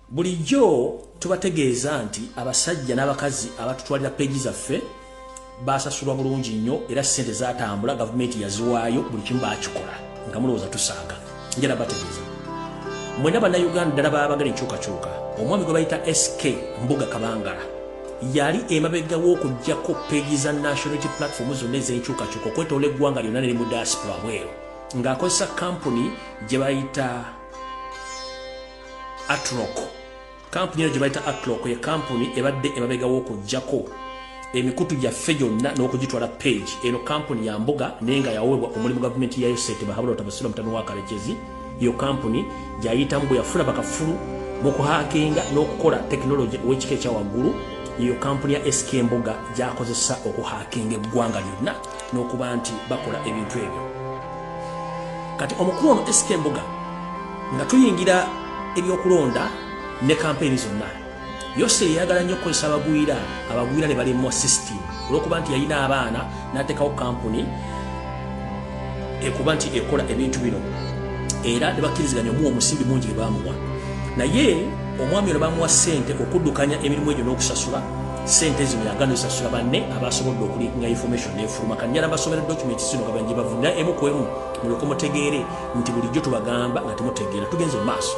bulijjo tubategeeza nti abasajja n'abakazi abatutwalira peegi zaffe basasulwa bulungi nnyo era ssente zatambula gavumenti yaziwaayo buli kimu bakikola nga mulowooza tusanga njala bategeeza mwena bannayuganda ddala baabagala enkyukakyuka omwami gwe bayita sk mbuga kabangala Yali emabega w'okuggyako peegi za National Unity Platform zonna ez'enkyukakyuka okwetoola eggwanga lyonna neri mu diaspora bweru ng'akozesa kkampuni gye bayita Atrock. Kkampuni eno gye bayita Atrock ye kkampuni ebadde emabega w'okuggyako emikutu gyaffe gyonna n'okugitwala peegi. Eno kkampuni ya mbuga naye nga yaweebwa omulimu gavumenti yayo ssente bahabula otabasula mutano wa Karekezi. Iyo kampuni gyayitamu bwe yafuna bakafulu mu kuhaakinga n'okukola tekinologi ow'ekika ekya waggulu yeyo kampuni ya SK Mbuga gyakozesa okuhaakinga eggwanga lyonna n'okuba nti bakola ebintu ebyo. Kati omukulu ono SK Mbuga nga tuyingira ebyokulonda ne kampeyini zonna Yoseri yayagala nnyo okukozesa abagwira abagwira ne balemwa system olw'okuba nti yalina abaana n'ateekawo kampuni ekuba nti ekola ebintu bino era ne bakkiriziganya omuwa omusimbi mungi gye baamuwa naye omwami ono baamuwa ssente okuddukanya emirimu egyo n'okusasula sente zino yagano sasula banne abasobodde okulinga information nefuluma kanyala basomera document zino nga banje bavunda emu ku emu mulyoke mutegeere nti bulijjo tubagamba nga temutegeera tugenze mu maaso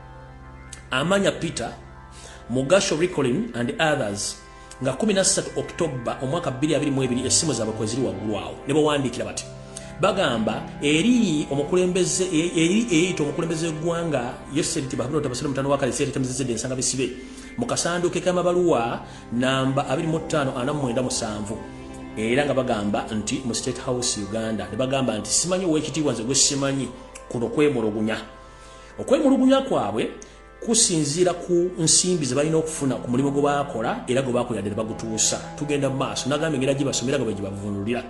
amanya peter mugasho ricolin and others nga 13 october omwaka 22 esimu zabwe kweziri waggulu awo ne bawandiikira bati bagamba eri omukulembeze e, eri eyita omukulembeze w'eggwanga yoseri nti bahabula otabasire mutano wakalesi eretemezezedde ensanga bisibe mu kasanduuke k'amabaluwa namba 25 49 musanvu era nga bagamba nti mu state house uganda ne bagamba nti simanyi owekitiibwa nze gwesimanyi kuno kwemulugunya okwemulugunya kwabwe kusinziira ku nsimbi ze balina okufuna ku mulimu gwe bakola era gwe bakola ddala bagutuusa tugenda mu maaso nagamba engeri gibasomera nga bwe gibavunulira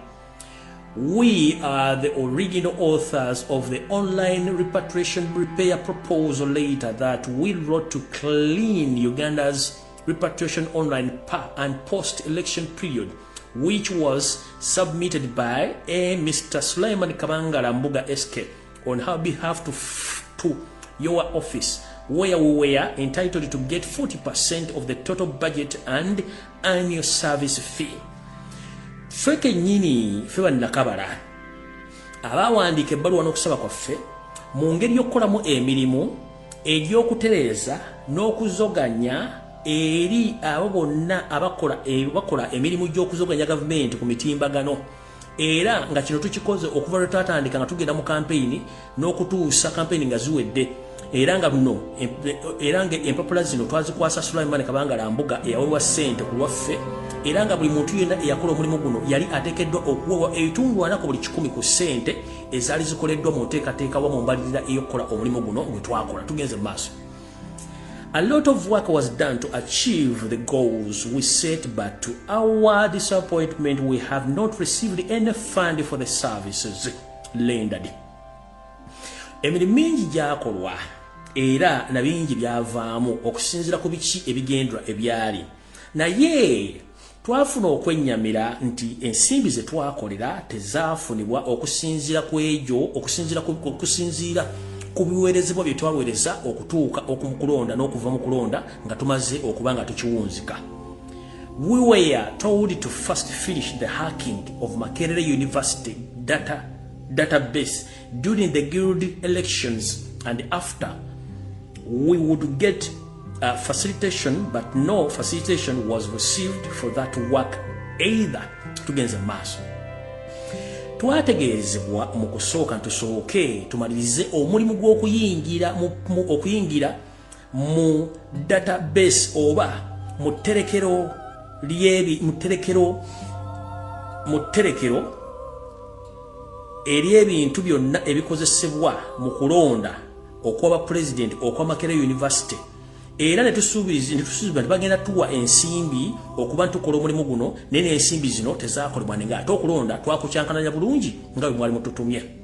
we are the original authors of the online repatriation repair proposal later that we wrote to clean uganda's repatriation online pa and post election period which was submitted by a mr suleiman kabangala mbuga sk on her behalf to, to your office where we were entitled to get 40% of the total budget and annual service fee ffe kenyini ffe bannakabala abaawandiika ebbaluwa n'okusaba kwaffe mu ngeri y'okukolamu emirimu egy'okutereeza n'okuzoganya eri abo bonna abakola emirimu gy'okuzoganya gavumenti ku mitimbagano era nga kino tukikoze okuva lwe twatandika nga tugenda mu kampeyini n'okutuusa kampeyini nga ziwedde era nga luno era nga empapula zino twazikwasa sulaimani kabangala mbuga eyawewa ssente ku lwaffe era nga buli muntu yenna eyakola omulimu guno yali ateekeddwa okuwewa ebitundu ana ku buli kikumi ku ssente ezaali zikoleddwa mu nteekateeka wa mu mbalirira ey'okukola omulimu guno gwe twakola tugenze mu maaso A lot of work was done to achieve the goals we set, but to our disappointment, we have not received any fund for the services rendered. Emiri mingi gyakolwa era na bingi byavaamu okusinzira ku biki ebigendwa ebyali naye Twafuna okwennyamira nti ensimbi ze twakolera tezaafunibwa okusinziira ku egyo okusinziira ku okusinziira ku biweerezebwa bye twaweereza okutuuka oku kulonda n'okuva mu kulonda nga tumaze okuba nga tukiwunzika. We were told to first finish the hacking of Makerere University data database During the guild elections and after, we would get uh, facilitation, but no facilitation was received for that work either tugenze maaso twategeezebwa mu kusooka ntusooke tumalirize omulimu gw'okuyingira okuyingira mu database oba mu tterekero lyebi mu tterekero mu tterekero ery'ebintu byonna ebikozesebwa mu kulonda okwaba pulezidenti okwa makere university era netusuubiza netusuubiza nti bagenda tuwa ensimbi okuba ntukola omulimu guno naye n'ensimbi zino tezakolebwa ninga ate okulonda twakukyankananya bulungi nga bwe mwali mututumye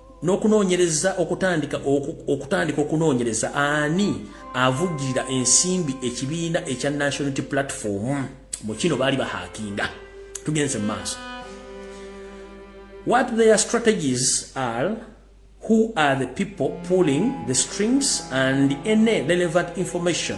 N'okunoonyereza okutandika okutandika okunoonyereza ani avujjirira ensimbi ekibiina ekya Nationality Platform mu kino baali bahakinga tugenze mu maaso what their strategies are who are the people pulling the strings and any relevant information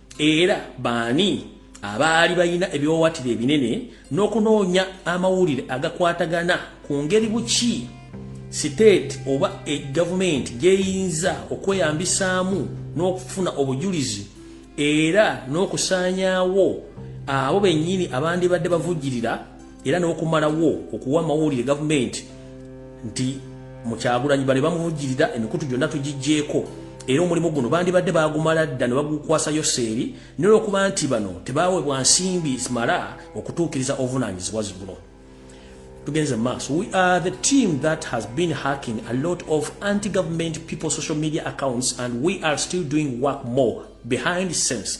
Era baani abaali balina ebiwawatiro ebinene n'okunoonya amawulire agakwatagana ku ngeri buki siteeti oba e gavumenti gyeyinza okweyambisaamu n'okufuna obujulizi era n'okusaanyaawo abo bennyini abandibadde bavujjirira era n'okumalawo okuwa amawulire gavumenti nti mukyagulanyi bale bamuvujjirira emikutu gyonna tugijjeeko era omulimu guno bandibadde baagumala dda ne bagukwasa yoseeri nolwokuba nti bano tebaawebwa nsimbi zimala okutuukiriza obuvunaanyizibwa ziguno tugenze maaso we are the team that has been hacking a lot of anti government people social media accounts and we are still doing work more behind sense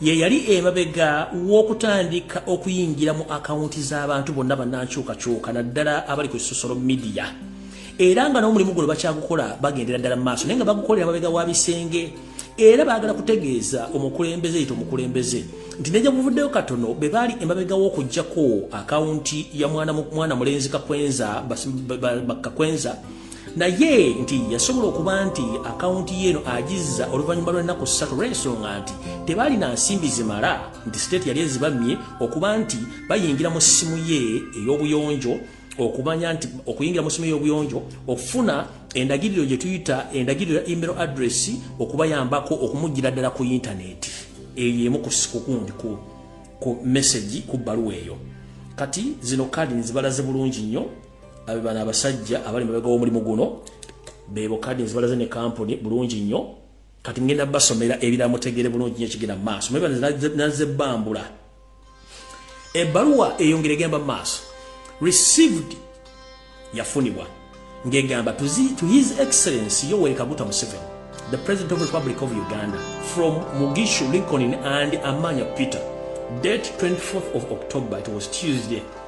ye yali emabega w'okutandika okuyingira mu akawunti z'abantu bonna bannankyukakyuka naddala abali ku sosolo midiya era nga n'omulimu guno bakyagukola bagendera ddala mu maaso naye nga bagukolera mabega wa bisenge era baagala kutegeeza omukulembeze yita omukulembeze nti neja buvuddeyo katono be baali emabega w'okugyako akawunti ya mwana mulenzi kakwenza kakwenza naye nti yasobola okuba nti akawunti yeeno agizza oluvannyuma lw'ennaku ssatu lw'ensonga nti tebaalina nsimbi zimala nti siteeti yali ezibamye okuba nti bayingira mu ssimu ye ey'obuyonjo okumanya nti okuyingira mu ssimu ey'obuyonjo okufuna endagiriro gye tuyita endagiriro ya email address okubayambako okumuggira ddala ku yintaneeti eyo emu kukundi ku mesagi ku bbaluwa eyo kati zino kaadi nzibalaze bulungi nnyo abe bana abasajja abali mabega w'omulimu guno bebo kadins balaze ne kampuni bulungi nnyo kati ngenda basomera ebira mutegere bulungi nnyo kigenda maaso mwe naze bambula ebbaluwa eyongere gamba maaso received yafunibwa ngegamba to, to his excellence yoweri kaguta museveni the president of the republic of uganda from mugishu lincoln and amanya peter date 24th of october it was tuesday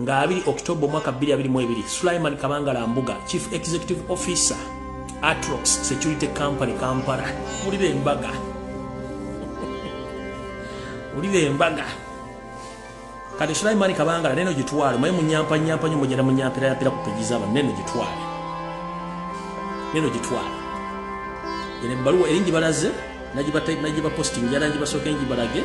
nga 2 October omwaka 2022 Sulaiman Kabangala Mbuga Chief Executive Officer Atrox Security Company Kampala mulira embaga mulira embaga kati Sulaiman Kabangala neno gitwale mwe munyampa nyampa nyo mujana munyampira yapira kupejiza aba neno gitwale neno gitwale ene baluwa eringi balaze najiba type najiba posting yarangi basokenji balage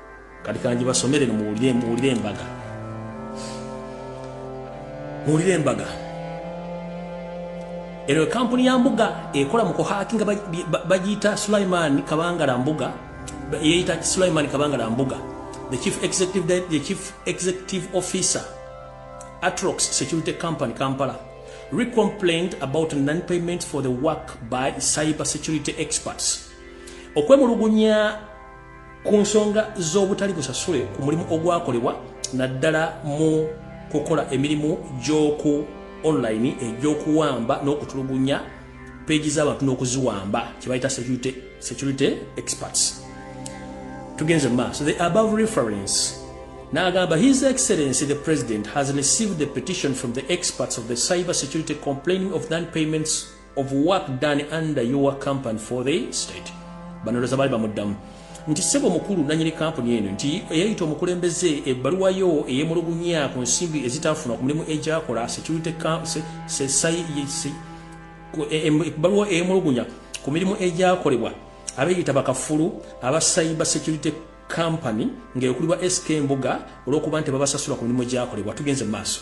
kati kanji basomere no muwulire muwulire embaga muwulire embaga eno ekampuni ya mbuga ekola mu kuhakinga bagiyita sulaiman kabangala mbuga yeyita sulaiman kabangala mbuga the chief executive, the chief executive officer atrox security company kampala recomplained about non-payment for the work by cyber security experts okwemulugunya ku nsonga z'obutali busasule ku mulimu ogwakolebwa naddala mu kukola emirimu gy'oku online egy'okuwamba n'okutulugunya peegi z'abantu n'okuziwamba kye bayita security, security experts tugenze maaso the above reference n'agamba his excellency the president has received the petition from the experts of the cyber security complaining of non payments of work done under your company for the state banoroza bali bamuddamu nti sebo mukulu nanyini kampuni eno nti eyayita omukulembeze ebbaluwa yo eyemulugunya ku nsimbi ezitafuna ku mulimu egyakola ebbaluwa eyemulugunya ku mirimu egyakolebwa abeyita bakafulu aba cyber security company ngaekulibwa sk mbuga olwokuba nti babasasula ku mirimu gyakolebwa tugenze mu maaso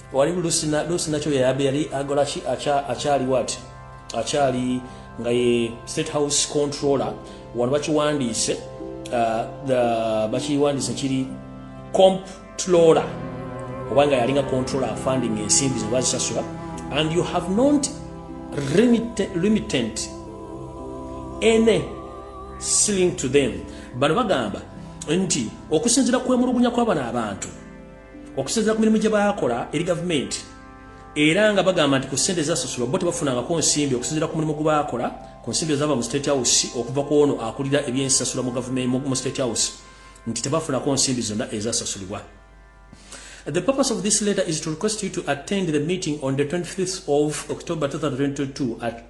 Wali Lucy na Lucy na choya yabe yali agola chi acha achali what? Achali nga ye state house controller wano bachi wandise uh, the bachi wandise chiri comp tlola obanga yali nga controller funding in simbi zo bazi sasura and you have not limited limited any sling to them bano bagamba nti okusinzira kwemulugunya kwabana abantu okusinzira ku mirimu gye baakola eri gavumenti era nga bagamba nti ku ssente ezasasulwa bo tebafunangako nsimbi okusinzira ku mulimu gwe baakola ku nsimbi ezaava mu state house okuva ku ono akulira ebyensasula mu gavumenti mu state house nti tebafunako nsimbi zonna ezasasulibwa The purpose of this letter is to request you to attend the meeting on the 25th of October 2022 at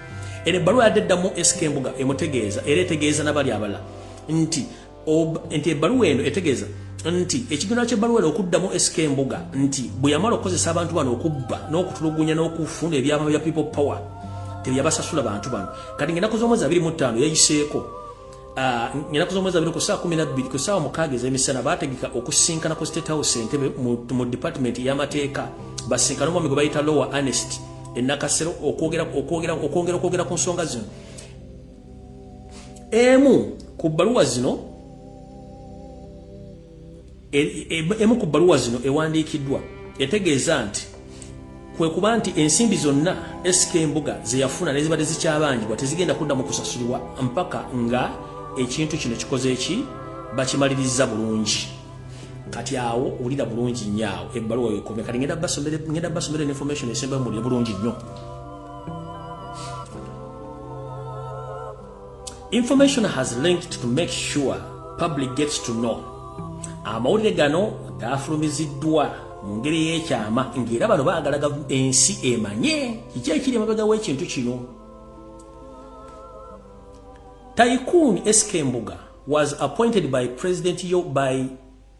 Eno ebbaluwa yadde eddamu SK Mbuga emutegeeza era etegeeza nabali abala nti nti ebbaluwa eno etegeeza nti ekigendererwa ky'ebbaluwa eno okuddamu SK Mbuga nti bwe yamala okukozesa abantu bano okubba n'okutulugunya n'okufuna ebyama bya people power teyabasasula bantu bano kati ng'ennaku z'omwezi abiri mu ttaano yayiseeko Ah, ngenaku z'omwezi abiri ku saa kumi nabbiri ku saawa mukaaga ez'emisana baategeka okusinkana ku state house entebe mu department y'amateeka basinkana omwami gwe bayita lower anest enakasero okwongera okwogera ku nsonga zino emu ku bbaluwa zino E, e, emu ku bbaluwa zino ewandiikiddwa etegeeza nti kwe kuba nti ensimbi zonna SK Mbuga ze yafuna ne zibadde zikyabanjibwa tezigenda kuddamu kusasulwa mpaka nga ekintu kino kikoze ki bakimalirizza bulungi kati awo owulira bulungi nnyo awo ebbaluwa wekome kati ngenda basomera information esembayo mulire bulungi nnyo Information has linked to make sure public gets to know. Amawulire gano gaafulumiziddwa mu ngeri y'ekyama ng'era bano baagala ensi emanye kiki ekiri emabega w'ekintu kino. Tycoon SK Mbuga was appointed by President Yo by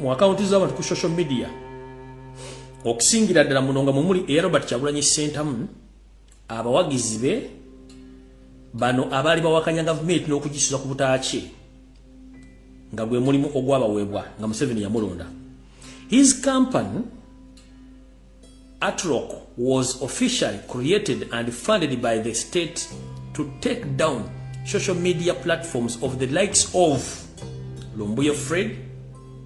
mu akawunti z'abantu ku social media okusingira ddala muno nga mumuli eya robert kyagulanyi sentamu abawagizi be bano abaali bawakanya gavumenti n'okugisuza ku butaaki nga gwe mulimu ogwabaweebwa nga museveni yamulonda his company Artlock was officially created and funded by the state to take down social media platforms of the likes of Lumbuye Fred,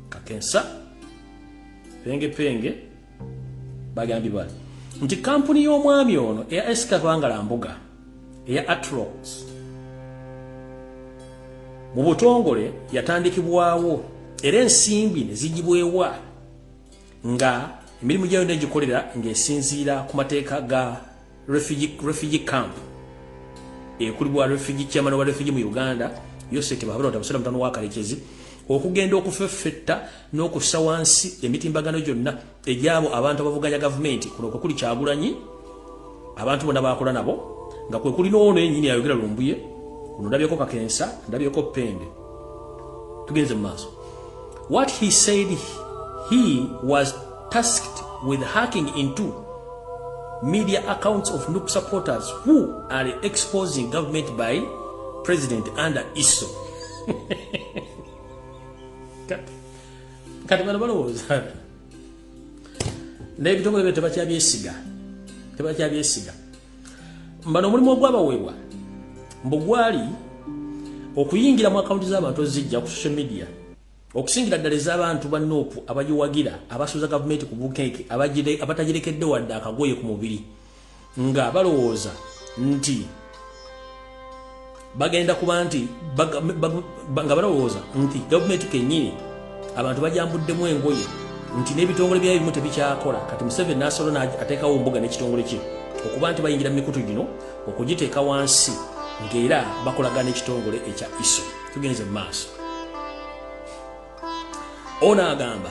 Kakensa, Penge Penge, Bagambi Bali. Nti kampuni y'omwami ono eya Esika Bangala Mbuga eya Atrox mu butongole yatandikibwawo era ensimbi ne zigibwewa nga emirimu gyayo yonna egikolera ng'esinziira ku mateeka ga refugee camp ekulibwa refugee chairman wa refugee mu uganda yosete bahabona tamusera mutano wakalekezi okugenda okufeffetta n'okussa wansi emitimbagano gyonna egyabo abantu abavuganya gavumenti kuno kwe kuli kyagulanyi abantu bona bakola nabo nga kwe kuli n'ono enyini ayogera lumbuye kuno ndabyeko kakensa ndabyeko pende tugenze mu maaso what he said he was tasked with hacking into media accounts of nup supporters who are exposing government by president under iso kati bano balowooza naye ebitongole byo tebakyabyesiga tebakyabyesiga mbano omulimu ogwabaweebwa mbu gwali okuyingira mu akawunti z'abantu ozijja ku social media okusingira ddala ez'abantu ba nuupu abagiwagira abasuuza gavumenti ku bukeeke abatagirekedde wadde akagoye ku mubiri nga balowooza nti bagenda kuba nti nga balowooza nti gavumenti kenyini abantu bajambuddemu engoye nti n'ebitongole byayo bimu tebikyakola kati museveni nasolo ateekawo mbuga n'ekitongole kye okuba nti bayingira mu mikutu gino okugiteeka wansi ng'era bakolagana ekitongole ekya iso tugenze mu maaso ono agamba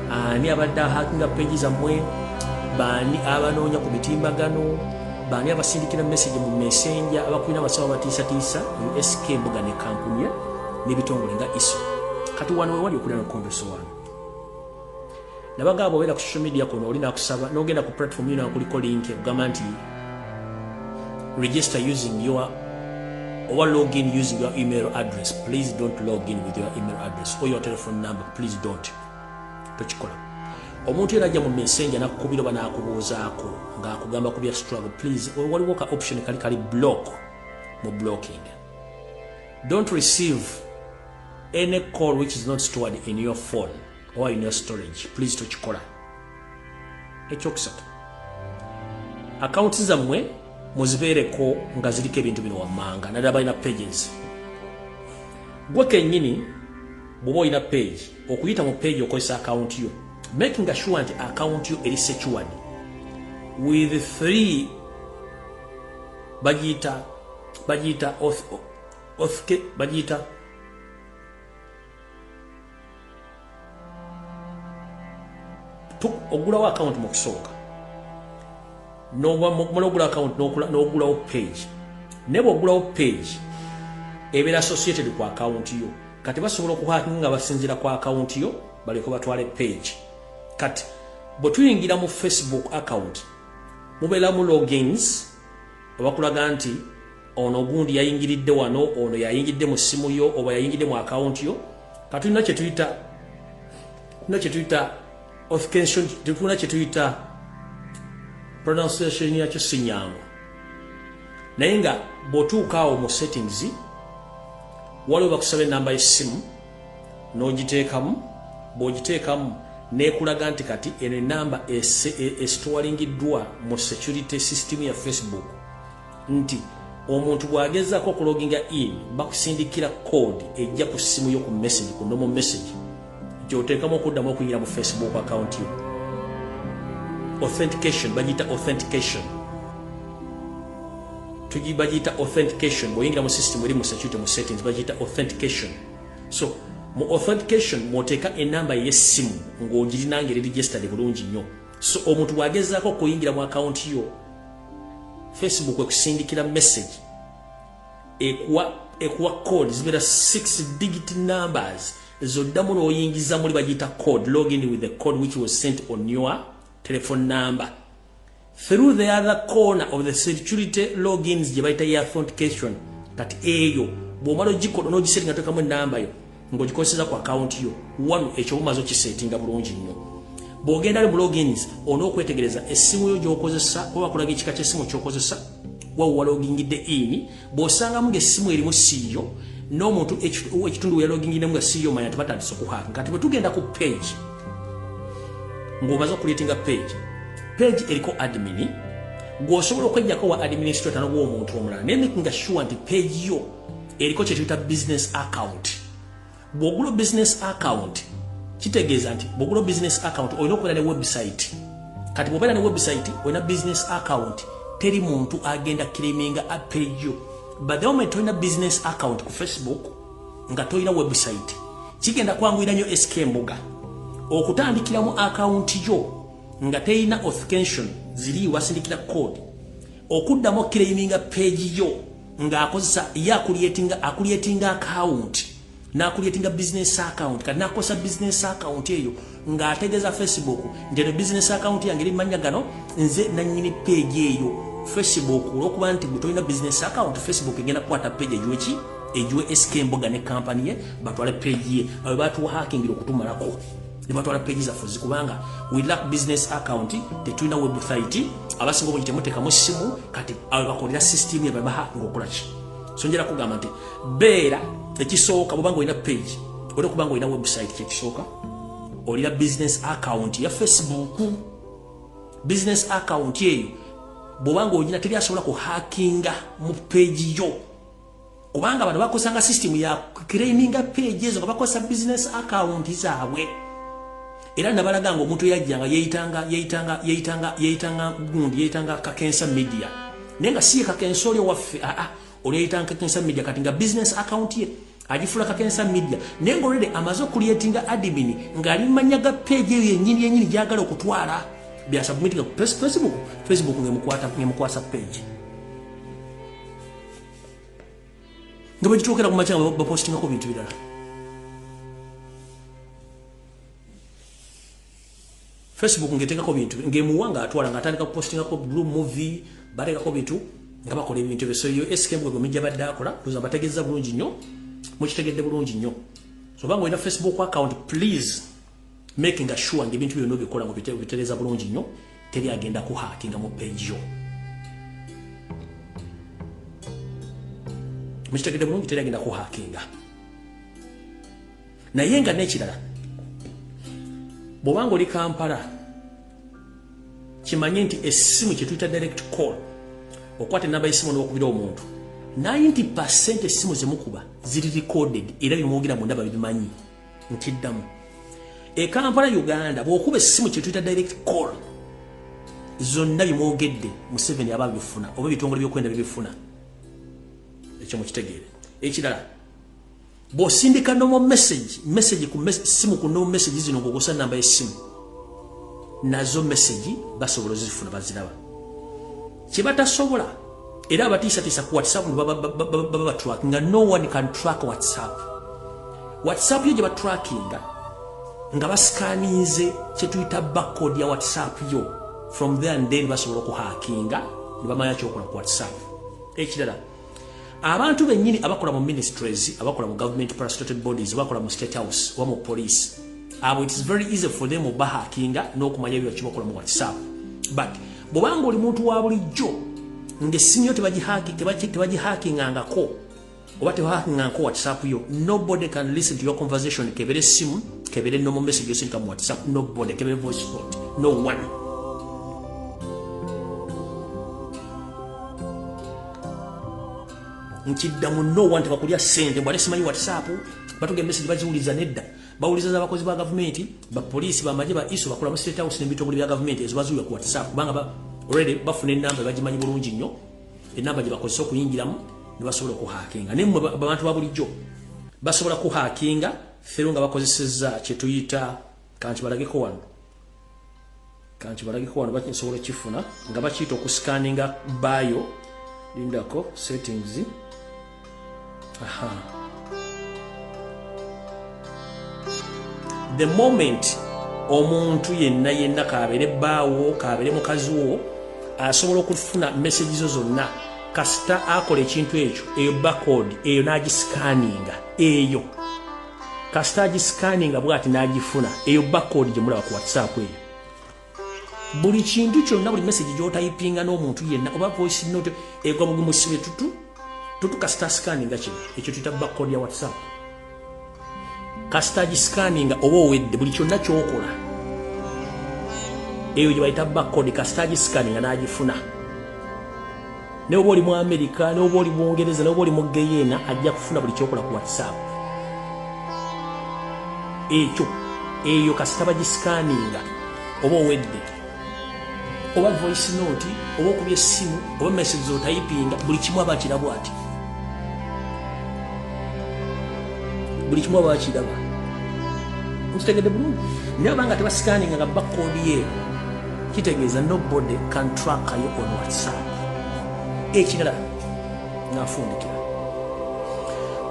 Ani abadde ahakinga peegi zammwe? Baani abanoonya ku mitimbagano? Baani abasindikira meseji mu mesenja abakulira abasawo abatiisatiisa mu SK Mbuga ne Kampunya n'ebitongole nga ISO? Kati wano wewali okulira nokondoso wano nabagamba obeera ku social media kuno oli nakusaba nogenda ku platform yona kuliko link ekugamba nti register using your owa login using your email address please don't login with your email address or your telephone number please don't tokikola omuntu yena ajja mu messenger nakukubira oba nakubuuzaako ngaakugamba kubya struggle please waliwo ka option kali kali block mu blocking don't receive any call which is not stored in your phone or in your storage please tokikola ekyokusatu akawunti zammwe muzibeereko nga ziriko ebintu bino wammanga naddala balina pages gwe kennyini bw'oba olina page Okuyita mu page okozesa account yo making sure nti account yo eri secured with three bagiyita bagiyita othke bagiyita ogulawo account mu kusooka nomala ogula account nogulawo page naye bwogulawo page ebeera associated ku account yo kati basobola okuhakinga nga basinzira ku account yo baleke batwale page kati bwe tuyingira mu facebook account mubeeramu logins abakulaga nti ono ogundi yayingiridde wano ono yayingidde mu ssimu yo oba yayingidde mu akawunti yo katulina kyetuyita tulina kyetuyita of kension tetulina kyetuyita pronunciation yakyo si nyangu naye nga bwotuuka awo mu settings waliwo bakusaba enamba yesimu n'ogiteekamu bw'ogiteekamu nekulaga nti kati eno enamba esitowalingiddwa mu security system ya facebook nti omuntu bw'agezaako okuloginga in bakusindikira code ejja ku ssimu yo ku message ku nomo message gy'oteekamu okuddamu okuyingira mu facebook account yo authentication bagiyita authentication bagiyita authentication bw'oyingira mu system eri mu security mu settings bagiyita authentication so mu authentication mwoteeka enamba ey'essimu ng'ogirinanga eri registered bulungi nnyo so omuntu bw'agezaako okuyingira mu akawunti yo facebook ekusindikira message ekuwa ekuwa code zibeera 6 digit numbers ezoddamu n'oyingiza muli bagiyita code login with the code which was sent on your telephone number through the other corner of the security logins gye bayita ye authentication kati eyo bw'omala ogikola n'ogisetinga tekamu enamba yo ng'ogikozeseza ku akawunti yo wano ekyo bumaze okiseetinga bulungi nnyo bw'ogenda li mu logins olina okwetegereza essimu yo gy'okozesa oba bakulaga ekika ky'essimu ky'okozesa wawuwa logingidde ini bw'osangamu ng'essimu erimu siiyo n'omuntu ekitundu we yalogingidemu nga siiyo manya tibatandisa okuhaaka kati bwe tugenda ku page ng'omaze okuleetinga page page eriko admini gw'osobola okwenjako wa administrator nogw'omuntu omulala naye nga sure nti page yo eriko kye tuyita business account bw'ogula business account kitegeeza nti bw'ogula business account olina okubeera ne website kati bw'obeera ne website olina business account teri muntu agenda kiriminga apejo but the moment tolina business account ku facebook nga tolina website kigenda kwanguyira nnyo sk mbuga okutandikiramu akawunti yo nga terina authentication ziri wasindikira code okuddamu okukiraiminga peegi yo nga akozesa ye akulyetinga akulyetinga akawunti nakulyetinga bizinesi akawunti kati nakozesa bizinesi akawunti eyo ng'ategeeza facebook nti eno bizinesi akawunti yange eri manya gano nze nanyini peegi eyo facebook olwokuba nti gwe tolina bizinesi akawunti facebook egenda kukwata peegi egiweki egiwe sk emboga ne kampani ye batwale peegi ye awe batuwa hakingira okutumalako nebatwala page zaffe zikubanga we lack business account tetulina website abasinga obungi temutekamu simu kati bakolera system yababaha ngaokolaki so njera kugamba nti beera ekisooka bwobanga olina page olina okubanga olina website kyekisooka olina business account ya facebook business account eyo bwobanga olina teri asobola kuhakinga mu page yo kubanga bano bakosanga system ya claiminga page ezo nga bakosa business account zaabwe era nabalaga nga omuntu yajjanga yeyitanga yeyitanga yeyitanga yeyitanga gundi yeyitanga kakensa media naye nga siye kakensa oli owaffe aa ah, ah, oli yeyitanga kakensa media kati nga business account ye agifula kakensa media naye nga olwede amaze okuliyetinga admin ngaali mumanya ga page eyo yenyini yenyini gyagala okutwala byasubmitinga ku facebook facebook ngemukwasa page nga bagituukira ku makya nga bapostingako bintu birala facebook ngetekako bintu ngemuwa nga atwala nga atandika kupostingako blue movie batekako bintu nga bakola ebintu ebyo soyo skmgwegomijja badde akola oza bategeza bulungi nnyo mukitegedde bulungi nnyo sobanga olina facebook account please making a sure nge bintu byonna bikola mu bitero bitereza bulungi nnyo teri agenda ku hacking mu page yo mukitegede bulungi teri agenda ku hacking naye nga n'ekirala bw'obanga oli kampala kimanye nti essimu kye tuyita direct call okwata enamba y'essimu n'okubira omuntu 90 percent essimu zemukuba ziri recorded era bimwogera mu ndaba bibimanyi nkiddamu ekampala uganda bwokuba essimu kyetuyita direct call zonna bimwogedde museveni aba bifuna oba ebitongole byokwenda bibifuna ekyo mukitegeere ekirala bwosindika nomo message message ku simu ku nomo message zino ngogosa namba yesimu nazo message basobola ozifuna baziraba kyebatasobola era abatiisatiisa ku whatsapp baba batrackinga no one can track whatsapp whatsapp yo gye batrackinga nga basikaninze kyetuyita backcode ya whatsapp yo from there and then basobola okuhakinga ne bamanya kyokola ku whatsapp ekirala abantu bennyini abakola mu ministries abakola mu government parastated bodies abakola mu state house oba mu police abo it is very easy for them obahakinga n'okumanya ebyo kibakola mu whatsapp but bwobanga oli muntu wa bulijjo ng'essimu yo tebagihakingangako oba tebahakingangako whatsapp yo nobody can listen to your conversation kebere essimu kebere nomo message yosindika mu whatsapp nobody kebere voice note no one nkiddamu no one tebakulya sente mbwale simanyi whatsapp batuga emesegi baziwuliza nedda bawuliza za bakozi ba gavumenti bapoliisi bamaje ba iso bakola mu state house n'ebitongole bya gavumenti ezo bazuula ku whatsapp kubanga ba already bafuna enamba bagimanyi bulungi nnyo enamba gye bakozesa okuyingiramu ne basobola okuhakinga naye mwe abantu ba bulijjo basobola kuhakinga fero nga bakozesezza kye tuyita kanti balageko wano kanti balagiko wano bakinsobola okifuna nga bakiyita okusikaninga bayo lindako settings aha the moment omuntu yenna yenna kabere baawo kabere mukazi wo asobola okufuna message zo zonna kasita akola ekintu ekyo eyo bakod eyo nagisikaninga eyo kasita agisikaninga bwati n'agifuna eyo bakodi gye mulaba ku whatsapp eyo buli kintu kyonna buli message gy'otayipinga n'omuntu yenna oba voice note egwa bugumusibe tutu tutu kasita asikaninga kino ekyo tuyita bakodi ya whatsapp kasita agisikaninga oba owedde buli kyonna ky'okola eyo gye bayita bakodi kasita agisikaninga n'agifuna naye oba oli mu amerika naye oba oli bungereza naye oba oli mugeyeena ajja kufuna buli kyokola ku whatsapp ekyo eyo kasita bagisikaninga oba owedde oba voice note oba okubya essimu oba message zotayipinga buli kimu aba akirabwa ati buli kimu aba akiraba nkitegedde bulungi naye obanga tebasikaninga nga bakodiyeeko Kitegeeza no body can track yo on whatsapp ekirala nafundikira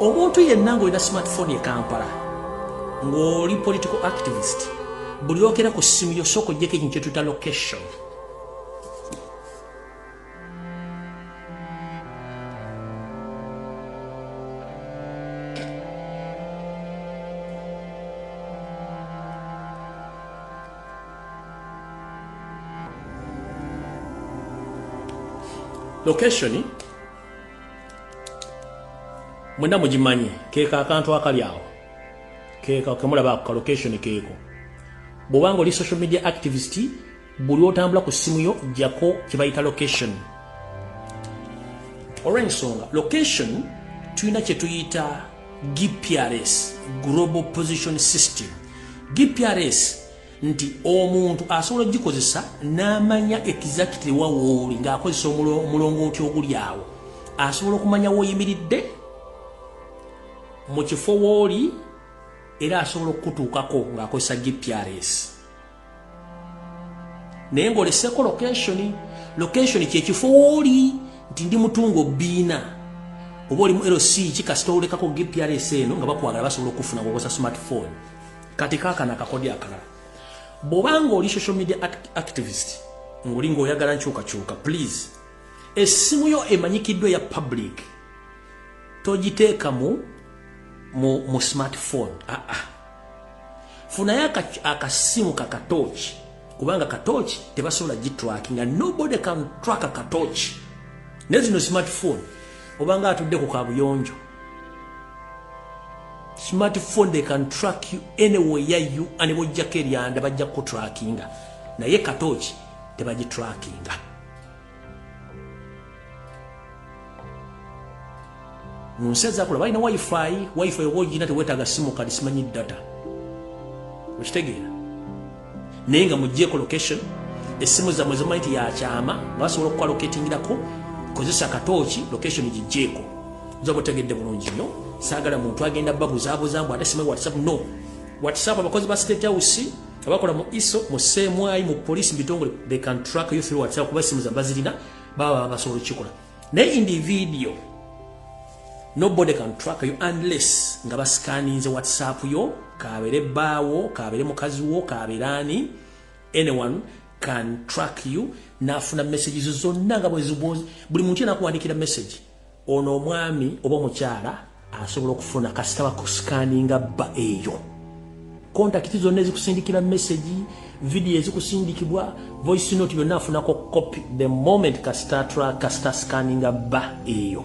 omuntu yenna ngaolina smartphone ekampala ngaoli political activist buli okera ku simu yosooka ojjeko ekintu kyetuta location location mwena mugimanyi keeko akantu akali awo keeko kemulaba ako ka location keeko bwobanga oli social media activist buli otambula ku simu yo jako kyebayita location olwensonga location tulina kyetuyita gprs global position system gprs nti omuntu asobola ogikozesa n'amanya exactly wawooli ng'akozesa omulongooti oguli awo asobola okumanya woyimiridde mu kifo wooli era asobola okukutuukako ng'akozesa gprs naye ng'oleseko location location kyekifo wooli nti ndi mutungo biina oba olimu lc ki kasita olekako gprs eno nga bakwagala basobola okufuna ngokosa smartphone kati kakana kakodi akalala bwobanga oli social media activist ngoli ngaoyagala nkyukakyuka please essimu yo emanyikiddwa eya public togiteekamu mu smartphone aa ah, ah. funayo akasimu ka katooki kubanga katooki tebasobola gitrakinga nobody can track a katooki naye zino smartphone obanga atudde ku kabuyonjo smartphone they can track you anywhere ya you ane bojjako eryanda bajja kutrakinga naye katooki tebagitrakinga mu nsi ezakola balina wifi wifi oba ogina tewetaaga simu kadi simanyi data okitegeera naye nga mugjeeko location essimu zammwe zimanyi ti yakyama nga basobola okukola loketingirako kozesa katooki location gijjeeko nzoba otegedde bulungi nnyo saagala muntu agenda babuzabuza mbu ate simanyi whatsapp no whatsapp abakozi ba state house abakola mu iso mu semwayi mu police mu bitongole they can track you through whatsapp kuba simu zabazirina baba basobola okukikola naye in the video nobody can track you unless nga basikaninze whatsapp yo kabere baawo kabere mukazi wo kabere ani anyone can track you nafuna messages zonna nga bwezibwozi buli muntu yena akuwandikira message ono omwami oba omukyala asobola okufuna kasita bakusikaninga bba eyo kontakiti zonna ezikusindikira mesegi vidiyo ezikusindikibwa voice note byonna afunako copy the moment kasita tra kasita sikaninga bba eyo